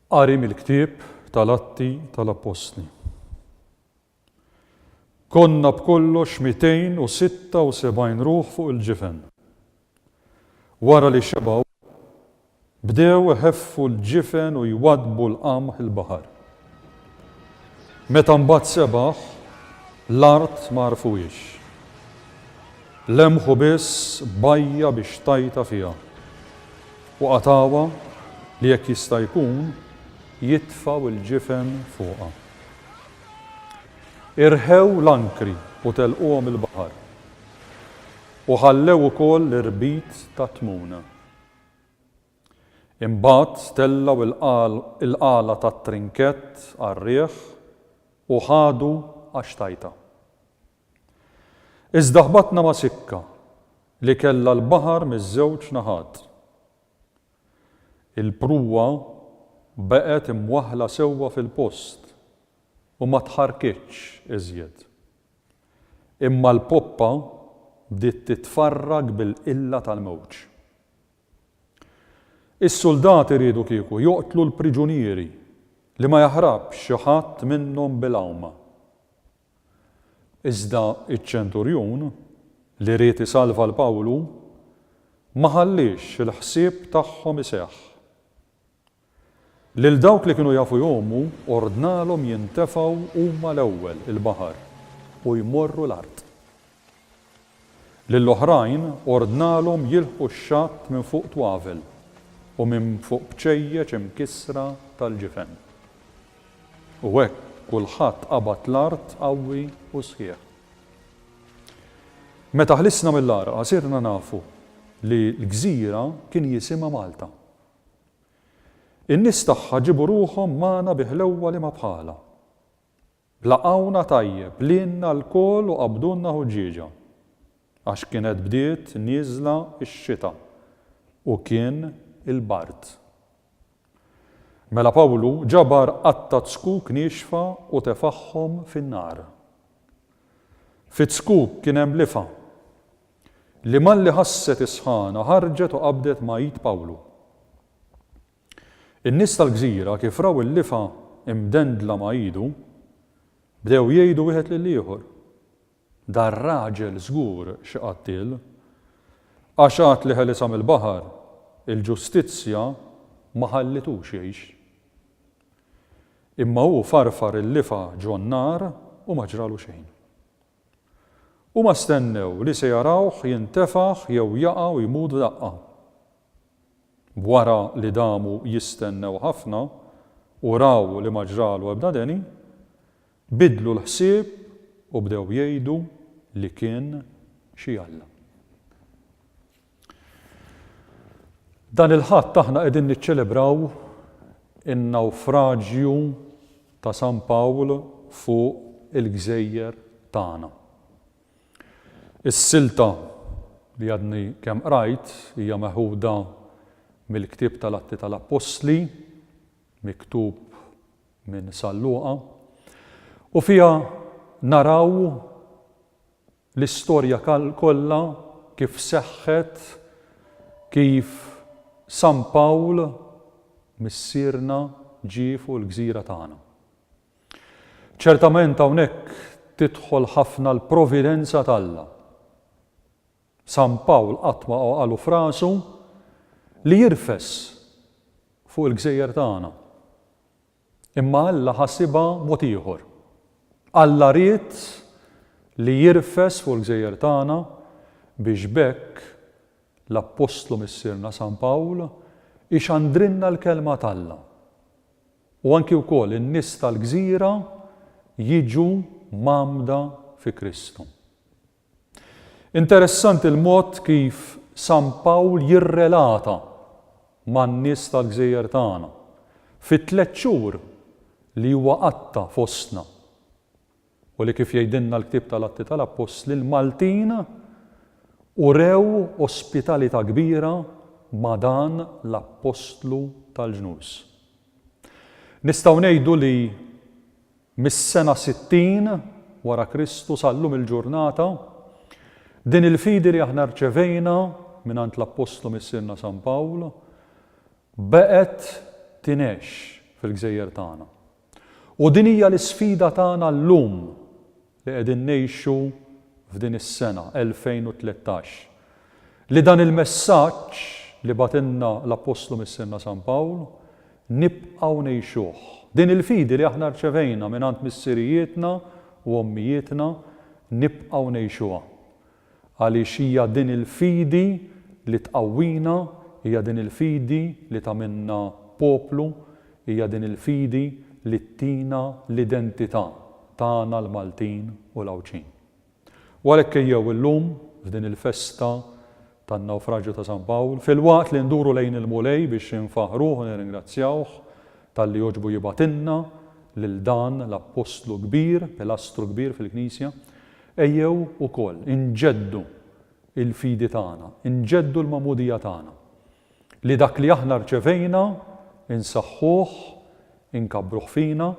Qari mill-ktieb tal-Atti tal-Appostli. Konna b'kollox 276 ruħ fuq il-ġifen. Wara li xebgħu, bdew iħeffu l-ġifen u jwaddbu l-qamħ il-baħar. Meta mbagħad sebaħ, l-art ma għarfuhiex. Lemħu biss bajja biex tajta fiha u qatgħuha li jekk jista' jkun jitfgħu l-ġifen fuqha. Irħew l-ankri u telquhom il-baħar. U ħallew ukoll l-irbit tat-tmun. Imbagħad tellgħu l-qala tat-trinkett għar-riħ u ħadu għax tajtha. Iżda ħbatna ma' sikka li kellha l-baħar miż-żewġ naħat. Il-prua baqgħet imwaħħla sewwa fil-post u ma tħarrkitx iżjed. Imma l-poppa bdiet titfarrak bil-qilla tal-mewġ. Is-suldati riedu kieku joqtlu l-priġunieri li ma jaħrabx xi ħadd minnhom bil-għawma. Iżda ċ-ċenturjun, li ried isalva 'l Pawlu, ma ħalliex il-ħsieb tagħhom iseħħ. Lil dawk li kienu jafu jgħumu ordnalhom jintefgħu huma l-ewwel il-baħar u jmorru l-art. Lill-oħrajn ordnalhom jilħqu x-xatt minn fuq twavel u minn fuq bċejjeċ imkissra tal-ġifen. U hekk kulħadd qabad l-art qawwi u sħiħ. Meta ħlisna mill-għarqa sirna nafu li l-gżira kien jisimha Malta. In-nies tagħha ġiebu ruħhom magħna bi ħlewwa li ma bħalha. Laqgħuna tajjeb lilna lkoll u qabdulna ħuġġieġa. Għax kienet bdiet nieżla x-xita u kien il-bard. Mela Pawlu ġabar qatta' t-zkuk niexfa u tefagħhom fin-nar. Fiz-zkuk kien hemm lifa. li malli ħasset is-sħana ħarġet u qabdet ma' id Pawlu. In-nies tal-gżira kif raw il-lifa imdendla ma' idu, bdew jgħidu wieħed lill-ieħor, Dar-raġel żgur xi qattiel, għax għad li ħelisha mill-baħar, il-ġustizzja ma ħallitux jgħix. Imma hu farfar il-lifa ġon-nar u ma ġralu xejn. Huma stennew li se jarawh jintefaħ jew jaqa' u jmut f'daqqa. Wara li damu jistennew ħafna u raw li ma ġralu ebda deni, biddlu l-ħsieb u bdew jgħidu li kien xi Alla. Dan il-Ħadd aħna qegħdin niċċelebraw in-nawfraġju ta' San Pawl fuq il-gżejjer tagħna. Is-silta li għadni kemm qrajt hija meħuda mill-ktieb tal-Atti tal-Appostli, miktub minn San Luqa, u fiha naraw l-istorja kollha kif seħħet, kif San Pawl missierna ġie fuq il-gżira tagħna. Ċertament hawnhekk tidħol ħafna l-providenza t'Alla. San Pawl qatt ma għoqalu f'rasu li jirfes fuq il-gżejjer tagħna. Imma Alla ħasibha mod ieħor. Alla ried li jirfes fuq il-gżejjer tagħna biex b'hekk l-appostlu missierna San Pawl ixandrilna l-Kelma t'Alla u anki wkoll in-nies tal-gżira jiġu mgħammda fi Kristu. Interessanti l-mod kif San Pawl jirrelata man-nies tal-gżejjer tagħna, fit-tliet xhur li huwa qatta' fostna, u li kif jgħidilna l-ktieb tal-Atti tal-Appostli, l-Maltin urew ospitalità kbira ma' dan l-Appostlu tal-ġnus. Nistgħu ngħidu li. Mis-sena 60 wara Kristu sa llum il-ġurnata, din il-fidi li aħna rċevejna mingħand l-Appostlu Missierna San Pawl baqgħet tingħex fil-gżejjer tagħna. U din hija l-isfida tagħna llum li qegħdin ngħixu f'din is-sena, 2013, li dan il-messaġġ li bagħtilna l-Appostlu Missierna San Pawl nibqgħu ngħixuh. Din il-fidi li aħna rċevejna mingħand missirijietna u ommijietna nibqgħu ngħixuha. Għaliex hija din il-fidi li tqawwina, hija din il-fidi li tagħmilna poplu, hija din il-fidi li ttina l-identità tagħna l-Maltin u l-Għawdxin. U għalhekk ejjew illum, f'din il-festa tan-Nawfraġju ta' San Pawl, filwaqt li nduru lejn il-Mulej biex infaħħruh u nirringrazzjawh talli jogħġbu jibgħatilna lil dan l-appostlu kbir, pilastru kbir fil-Knisja, Ejjew ukoll inġeddu l-fidi tagħna, inġeddu l-magħmudija tagħna, li dak li aħna rċevejna insaħħuh, inkabbruh fina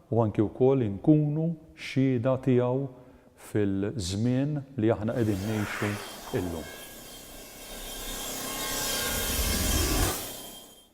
u anki wkoll inkunu xhieda tiegħu fil-żmien li aħna qegħdin ngħixu illum.